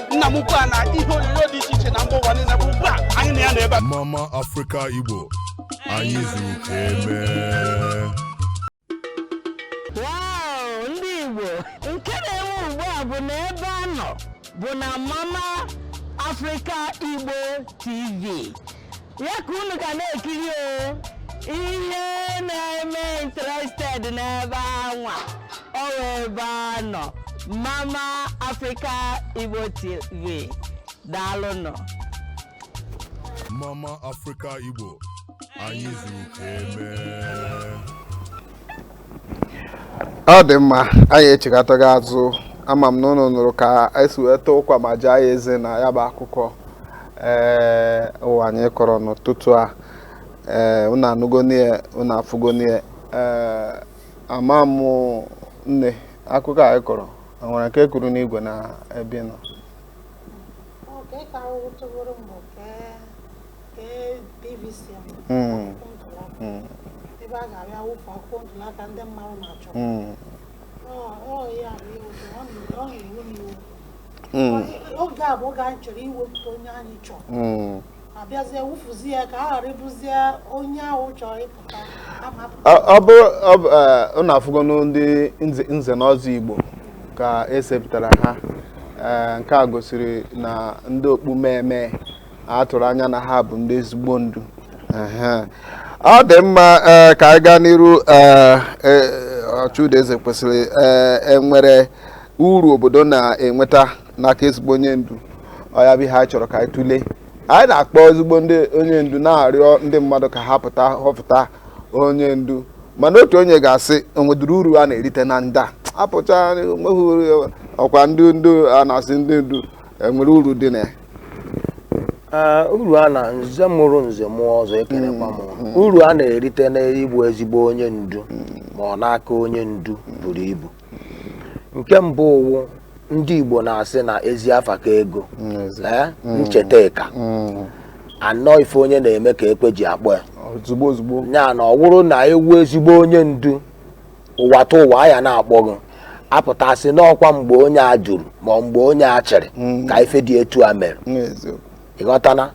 S1: nna m ukwu a na ihe onyonyo dị iche iche na mba ụwa niile bụ ugbu a anyị na ya nọ ebe a mama afrịka
S2: igbo anyị zuru ka emee
S3: Wow, ndị Igbo nke na-enwe ugbu a bụ na ebe a nọ bụ na Mama Africa Igbo TV ya ka unu ga na-ekiri o ihe na-eme interested n'ebe anwa ọ wụ ebe a nọ mama africa igbo tv daalụnụ Mama
S2: Africa Igbo anyị zuru ka eme
S4: ọ dị mma anyị echighatago azụ ama m na ụnụ nụrụ ka esi wee taa ụkwa ma jaa ya eze na ya bụ akụkọ ee ụwa anyị kọrọ n'ụtụtụ a ee ụnụ anụgonụ ya ụnụ afụgonụ ya ee ama m nne akụkọ anyị kọrọ o nwere nke kwuru n'igwe na ebe ị nọ Ọ ka ị ka ahụhụ tụworo m bụ oge
S5: a bụ oge anyị chọrọ iwepụta onye anyị chọrọ hmm. abịazie wụfuzi ya ka a ghara ịbụzie onye ahụ chọrọ ịpụta
S4: ọ bụrụ ụnụ afụgo ndị nze na ọzọ igbo ka esepụtara ha nke a gosiri na ndị okpu mmee a tụrụ anya na ha bụ ndị ezigbo ndu ọ dị mma eh, ka anyị gaa n'iru eh, eh, ọchụda eze kwesịrị enwere uru obodo na-enweta n'aka ezigbo onye ndu ọ ya bụ ihe anyị chọrọ ka anyị tụlee anyị na-akpọ ezigbo ndị onye ndu na-arịọ ndị mmadụ ka ha pụta họpụta onye ndu mana otu onye ga-asị o nwedụrụ uru a na-erite na ndị a apụcha nweghị ọkwa ndị ndu a na-asị ndị ndu enwere uru dị na ya Ee, uru a
S6: na nze mụrụ nze mụọ ọzọ ekenekwa m ụnụ. uru a na-erite n'ịbụ ezigbo onye ndu ma ọ n'aka onye ndu buru ibu nke mbụ wụ ndị Igbo na-asị na ezi afa ka ego Ee, ncheta ka anọ ife onye na-eme ka ekwe ji akpọ ya ozugbo ozugbo ya
S4: na ọ wụrụ
S6: na ị wụ ezigbo onye ndu ụwa tụ ụwa a ya na-akpọ gị a pụta sị na ọkwa mgbe onye a jụrụ ma mgbe onye a chịrị mm. ka ife dị etu a mere ị ghọtana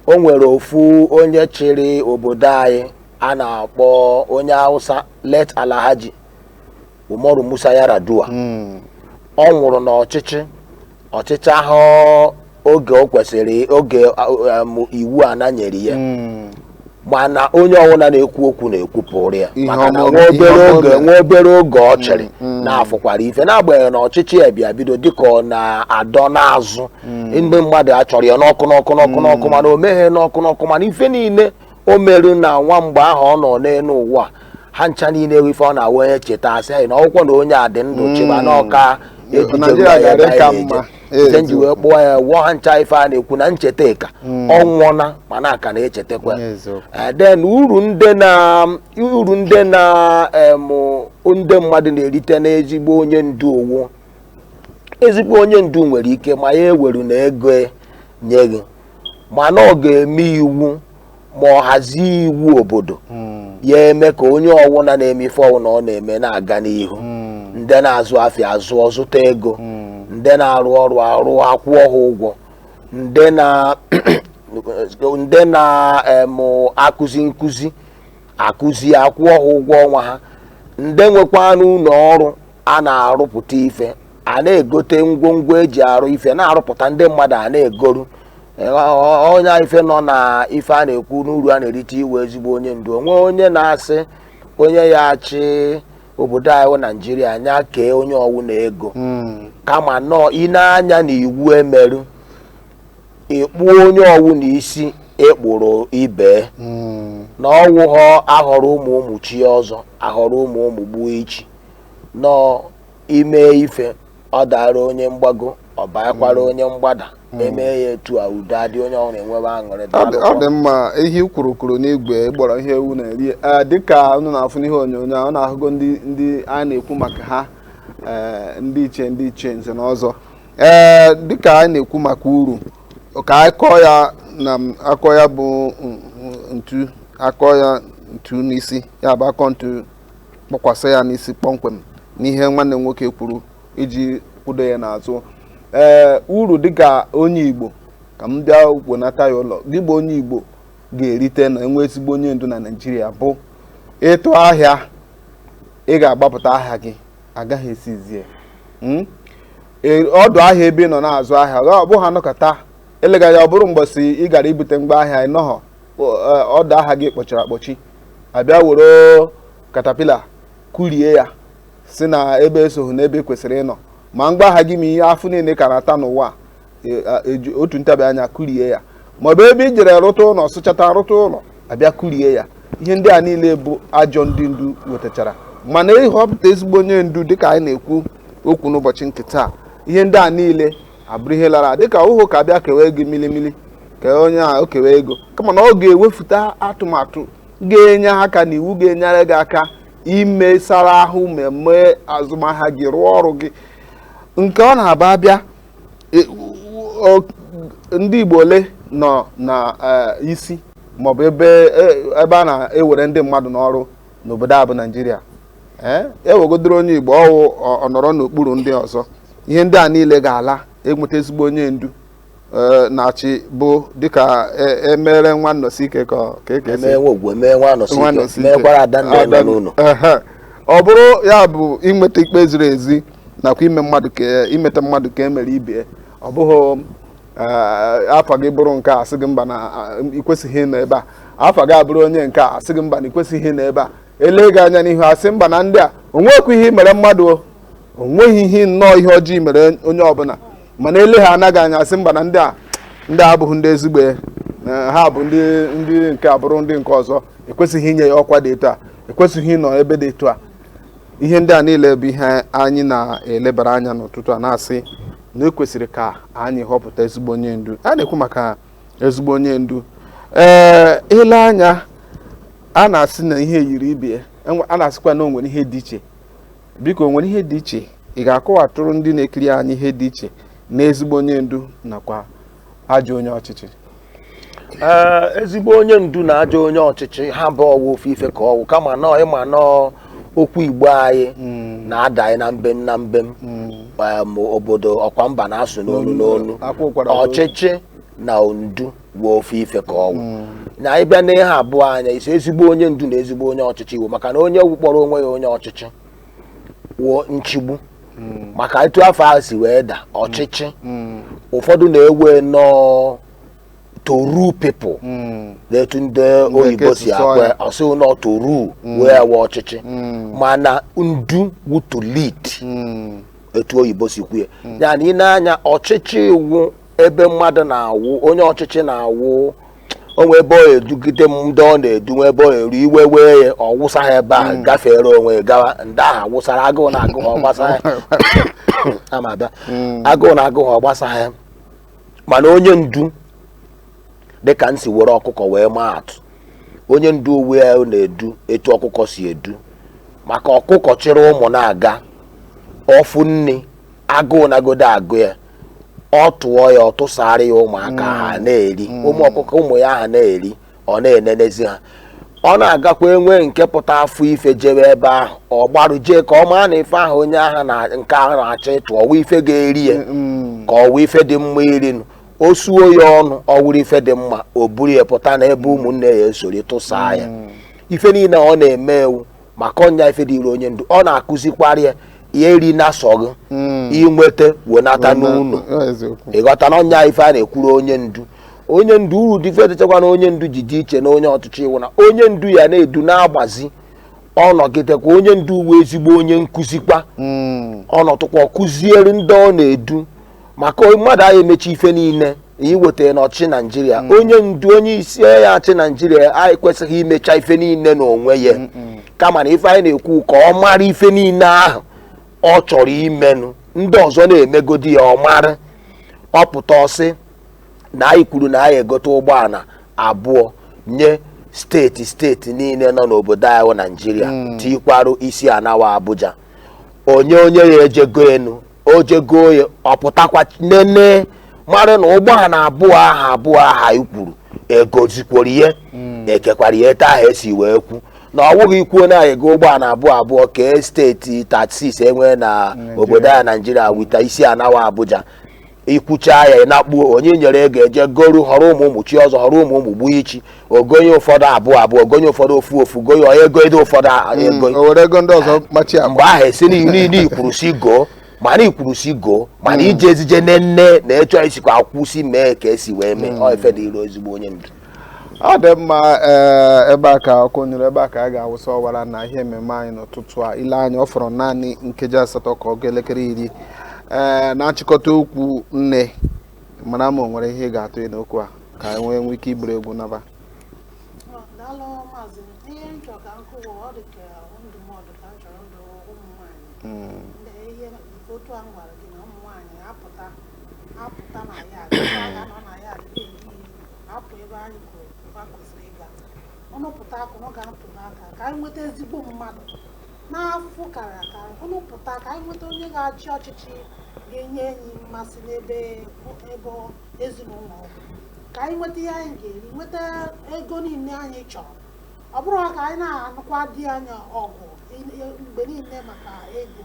S6: o nwere ofu onye chịrị obodo anyị a na-akpọ onye Awụsa late Alhaji Umaru Musa Yar'Adua mm. ọ nwụrụ n'ọchịchị ọ chịchahụ oge o kwesịrị oge iwu ana nyere ya hmm. mana onye ọwụna na-ekwu okwu na-ekwupụrụ ya maka na nwa obere oge nwa obere oge ọ chịrị hmm, hmm. na a fụkwara ife n'agbanyeghị na ọchịchị ya bịa bido dịka ọ na-adọ n'azụ ndị mmadụ achọrọ ya n'ọkụ n'ọkụ n'ọkụ n'ọkụ mana o meghe n'ọkụ n'ọkụ mana ife niile o meru na nwa mgbe ahụ ọ nọ n'elu ụwa ha ncha niile ewe ife ọ na-awụ onye cheta a sị anyị na ọ wụkwọ na onye a dị ndụ Mm. chịba na ọ ka ebutere Naijiria ya ga-adị ebe ka anyị mma. na-eje. Ife m ji wee kpọọ ya wụ ha ncha ife a na-ekwu na ncheta ka Mm. ọ nwụọna mana a ka na-echetakwa Onye eziokwu. Eh, then uru ndị na uru ndị na em, ndị mmadụ na-erite n'ezigbo onye ndu ọ wụ ezigbo onye ndu nwere ike ma ya eweruna ego nye gị mana ọ ga-eme iwu ma ọ hazie iwu obodo hmm. ya eme ka onye ọwụna na-eme ife ọwụna ọ na-eme na-aga n'ihu hmm. ndị na-azụ afịa azụọ zụta ego hmm. ndị na-arụ ọrụ arụ a kwụọ ha ụgwọ ndị na-akụzi nkụzi akụzi a kwụọ ha ụgwọ ọnwa ha ndị nwekwanụ ụlọ ọrụ a na-arụpụta ife a na-egote ngwongwo e ji arụ ife na-arụpụta ndị mmadụ a na-egoru ọ nya ife nọ na ife a na-ekwu n'uru a na-erite inwe ezigbo onye ndu o nwe onye na-asị onye ya achị obodo anyị wụ naijiria nya kee onye ọwụna ego hmm. kama na ọ ine anya na iwu e merụ ịkpụ onye ọwụna isi e kpụrụ ibe hmm. na ọ wụghọ a họrọ ụmụ ụmụ chie ọzọ a họrọ ụmụ ụmụ gbuo ichi nọ ime ife ọ dara onye mgbago ọ bakwara hmm. onye mgbada hmm. eme ya etu a udo adị onye ọwụla enwebe aṅụrị ọ dị mma ihe
S4: kwuru kwuru n'igwe ghọrọ ihe ewu na-eri dịka unu na-afụ n'ihe onyonyo a unu ahụgo ndị anyị na-ekwu maka ha e, ndị ichie ndị ichie nze na ọzọ ee e, dịka anyị na-ekwu maka uru ka anyị kụọ ya na akụọ ya bụ ntu akụọ ya ntu n'isi ya bụ akụọ ntu kpọkwasị ya n'isi kpọmkwem n'ihe nwanne m nwoke kwuru iji kwudo ya n'azụ ee uru dịka onye Igbo ka m bịa wenata ya ụlọ gị bụ onye Igbo ga-erite na enwee ezigbo onye ndu na Naịjirịa bụ ịtụ ahịa ị ga-agbapụta ahịa gị agaghị esizie hmm? e, ọdụ ahịa ebe ị nọ na-azụ ahịa ọ bụghị anọkata elega ya ọ bụrụ mgbọsị ị gara ibute ngwa ahịa ị nọghọ e, ọdụ ahịa gị kpọchiri akpọchi abịa were katapila kurie ya sị na ebe esoghị n'ebe i kwesịrị ịnọ ma ngwa ahịa gị ma ihe afụ niile ka na-ata n'ụwa e, eji otu ntabi anya kurie ya ma ọ bụ ebe i jere rụta ụlọ sụchata rụta ụlọ abịa kurie ya ihe ndị a niile bụ ajọ ndị ndu wetachara mana ahọpụta ezigbo onye ndu dịka anyị na-ekwu okwu n'ụbọchị nke taa ihe ndị a niile abụrụ ihe lara dịka ọ wụhụ ka bịa o kewe ego milimili ka onye a o kewe ego kama na ọ ga-ewepụta atụmatụ ga-enye aka na iwu ga-enyere gị aka imesara ahụ mee azụmahịa gị rụọ ọrụ gị nke ọ na-abụ abịa e, ndị Igbo ole nọ na e, isi maọbụ ebe e, ebe a na-ewere ndị mmadụ n'ọrụ n'obodo a bụ Naịjirịa ee e wegodoro onye Igbo ọ wụ ọ- ọ nọrọ n'okpuru ndị ọzọ ihe ndị a niile ga-ala enweta ezigbo onye ndu ee, na-achị bụ dịka e- emere nwa Anọsike ka ọ- ka eke si emee nwa ogwu emee nwa anọsi nwa ike Anọsike. meekwara ada ndị nọ Ada- n'ụlọ Ehe. ọ bụrụ ya bụ inweta ikpe ziri ezi nakwa ime mmadụ ka e- imeta mmadụ ka e mere ibe ya ọ bụghị ee, afa gị bụrụ nke a a sị gị mba na a, ị kwesịghị ịnọ ebe a afa gị abụrụ onye nke a sị gị mba na ị kwesịghị ịnọ ebe a ele gị anya n'ihu asị mba na ndị a onweghị ihe mere mmadụ o onweghị ihe nnọọ ihe ọjọọ mere onye ọbụla mana elehaana gị anya asị mba na ndị a ndị abụghị ndị ezigbo ha bụ ndị ndị nke abụrụ ndị nke ọzọ ekwesịghị inye ya ọkwa dị etu a ekwesịghị ịnọ ebe dị etu a ihe ndị a niile bụ ihe anyị na-elebara anya n'ụtụtụ a na-asị na ekwesịrị ka anyị họpụta ezigbo onye ndu a na-ekwu maka ezigbo onye ndu ee eh, ile anya a na-asị na ihe yiri ibe ya enwe- a na-asịkwa na o nwere ihe dị iche biko o nwere ihe dị iche ị ga-akọwatụrụ ndị na-ekiri anyị ihe dị iche na ezigbo onye ndu nakwa ajọ onye ọchịchị Ee, ezigbo
S6: onye ndu na ajọ onye ọchịchị ha bụ ọ wụ ofu ife ka ọ wụ kama na ọ ị ma na okwu igbo anyị na-ada anyị na mbem na mbem Em, obodo ọ kwa mba na-asụ n'onu n'onu Akwa ụkwara n'olu. ọchịchị na ndu wụ ofu ife ka ọ wụ mm. na anyị bịa n'ihe abụọ anya isi ezigbo onye ndu na ezigbo onye ọchịchị wụ maka na onye kpọrọ onwe ya onye ọchịchị wụ nchigbu mm. maka etu afa ahụ si wee da ọchịchị mm. ụfọdụ na-ewe na ọ to rule people hmm. n'etu ndị oyibo si kwue sị na to rule hmm. wụ ọchịchị hmm. mana ndu wụ to lead etu oyibo si kwue ya na ị nee anya ọchịchị wụ ebe mmadụ na-awụ onye ọchịchị na-awụ o nwe ebe ọ edugide ndị ọ na-edu nwe ebe ọ eru iwe wee ya ọ wụsa ha ebe ahụ hmm. gafere onwe gawa ndị ahụ wụsara agụụ na-agụ ha ọ gbasahị ya ama abịa hmm. agụụ na-agụ ha ọ gbasahị ya mana onye ndu dịka m si were ọkụkọ wee maa atụ onye ndu wụ ya na-edu etu ọkụkọ si edu maka ọkụkọ chịrị ụmụ na-aga ọ fụ nni agụụ nagodi agụ ya ọ tụọ ya ọ tụsara ya ụmụaka ha na-eri ụmụ ọkụkọ ụmụ ya ha na-eri ọ na-enenezi ha ọ na-agakwa e nwee nke pụta fụ ife jebe ebe ahụ ọ gbarụ jee ka ọ maa na ife ahụ onye ahụ na nke ahụ na-achọ ịtụ ọ wụ ife ga-eri ya ka ọ wụ ife dị mma irinu o suo ya ọnụ ọ wụrụ ife dị mma o buru ya pụta n'ebe ụmụnne ya esori tụsaa ya ife niile ọ na-eme wụ maka ọ nya ife dịrị onye ndu ọ na-akụzikwara ya ya erina sọ gụ hmm. i nweta wenata n'ụnọ ị ghọta na ọ nya ife a na-ekwuru onye ndu onye ndu uru dị ife dịchakwa na onye ndu ji dị iche na onye ọchịchị wụ na onye ndu ya na-edu na-agbazi ọ nọgidekwa onye ndu wụ ezigbo onye nkụzikwa hmm. ọ nọtụkwa kụziere ndị ọ na-edu maka mmadụ anyị emecha ife niile i weta n'ọchịchị naijiria mm. onye ndu onye isi ya-achị naijiria anyị kwesịghị imecha ife niile n'onwe ya kama na ife anyị na-ekwu ka ọ mara ife niile ahụ ọ chọrọ imenụ ndị ọzọ na-emegodi ya ọ mara ọ pụta sị na anyị kwuru na anyị egote ụgbọala abụọ nye steeti steeti niile nọ n'obodo anyị naijiria mm. tikwarụ isi ana wụ abuja onye onye ya-eje egonụ o je go ya ọ pụtakwa nene mara na ụgbọala abụọ aha abụọ aha anyị kwuru e gozikworo ya e kekwara ya etu aha e si wee kwu na ọ wụghị i kwuo na anyị ego ụgbọala abụọ abụọ kee steeti thirty-six e nwee na obodo a naijiria wita isi ana wụ abuja ikwuchaa ya ị na-akpuo onye nyere ego e ji goru họrọ ụmụ ụmụ chi ọzọ họrọ ụmụ ụmụ gbuo ichi ogonye ụfọdụ abụọ abụọ ogonye ụfọdụ ofu ofu goye ọ ego ede ụfọdụ a- ego o were ego ndị ọzọ machi mgbe agba ahụ esi niile ikwuru si goo mana ikwuru si goo mana ije ezije nne nne na ịchọ isikwa akwụsị mee ka esi wee mee ọ ife dịrị ezigbo onye ndu ọ dị
S4: mma eh, ebe a ka ọkụ nyụrụ ebe a ka a ga-awụsa ọwara na ihe ememe anyị n'ụtụtụ a ị lee anya ọ fọrọ naanị nkeji asatọ ka ọ ga elekere iri ee eh, na-achịkọta okwu nne mara mma o nwere ihe ị ga-atụ n'okwu a ka anyị wee nwee ike iburu egwu naba
S5: apụta na ya agha nọ na ya adịghị ehi apụ ebe anyị kwuru ebe a kwesịrị ịga unu pụta ka unu ga-atụ aka ka anyị nweta ezigbo mmadụ nwa afọ kara aka unu pụta ka anyị nweta onye ga-achị ọchịchị ga-enye anyị mmasị n'ebe ebe ezinụlọ ọ bụ. ka anyị nweta ihe anyị ga-eri nweta ego niile anyị chọrọ ọ bụrụ ka anyị na-anụkwa di anyị ọgụ mgbe niile maka ego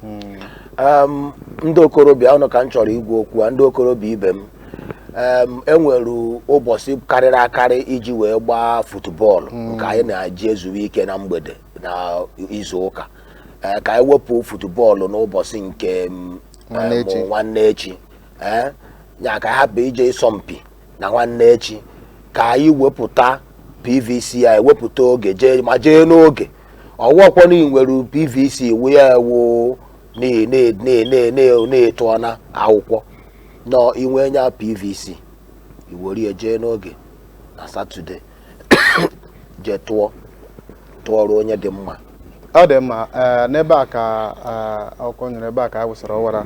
S6: hmm. ndị okorobịa unu ka m chọrọ ịgwa okwu a ndị okorobịa ibe m e nwere ụbọchị karịrị akarị iji wee gbaa futubọọlụ hmm. nke anyị na-eji ezuwe ike na mgbede na izu ụka e, ka anyị wepụ futubọọlụ n'ụbọchị nke nwanne echi e, ya ka anyị hapụ ije ịsọmpi na nwanne echi ka anyị wepụta pvc anyị wepụta oge jee ma jee n'oge ọ wụọkwa na i nwere pvc wụ ya ewu na- na- na- na- na- na-etu ọna akwụkwọ na i nwee nya pvc i were ya jee n'oge na satọde jee tụọ tụọrọ onye dị mma ọ dị
S4: mma ee, n'ebe a ka ee, ọkụ nyụrụ ebe a ka a wụsara ọwara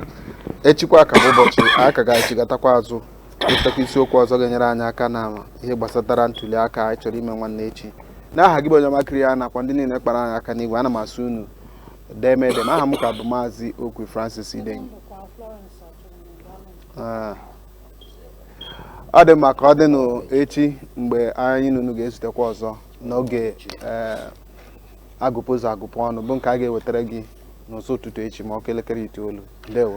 S4: echikwa ka bụ ụbọchị anyị ka ga-echighatakwa azụ wetakwa isiokwu ọzọ ga-enyere anyị aka na ihe gbasatara ntuli aka anyị chọrọ ime nwanne echi n'aha gị bụ onye ọma kiri ya nakwa ndị niile kpara anyị aka n'igwe ana m asị unu deeme deeme aha m ka bụ maazị okwe francis idenyi ah. ọ dị mma ka ọ dịnụ echi mgbe anyị na unu ga-ezutekwa ọzọ n'oge eh, agụpụ ụzọ agụpụ ọnụ bụ nke a ga-ewetara gị n'ụzọ ụtụtụ echi ma ọ kụọ elekere itoolu ndewo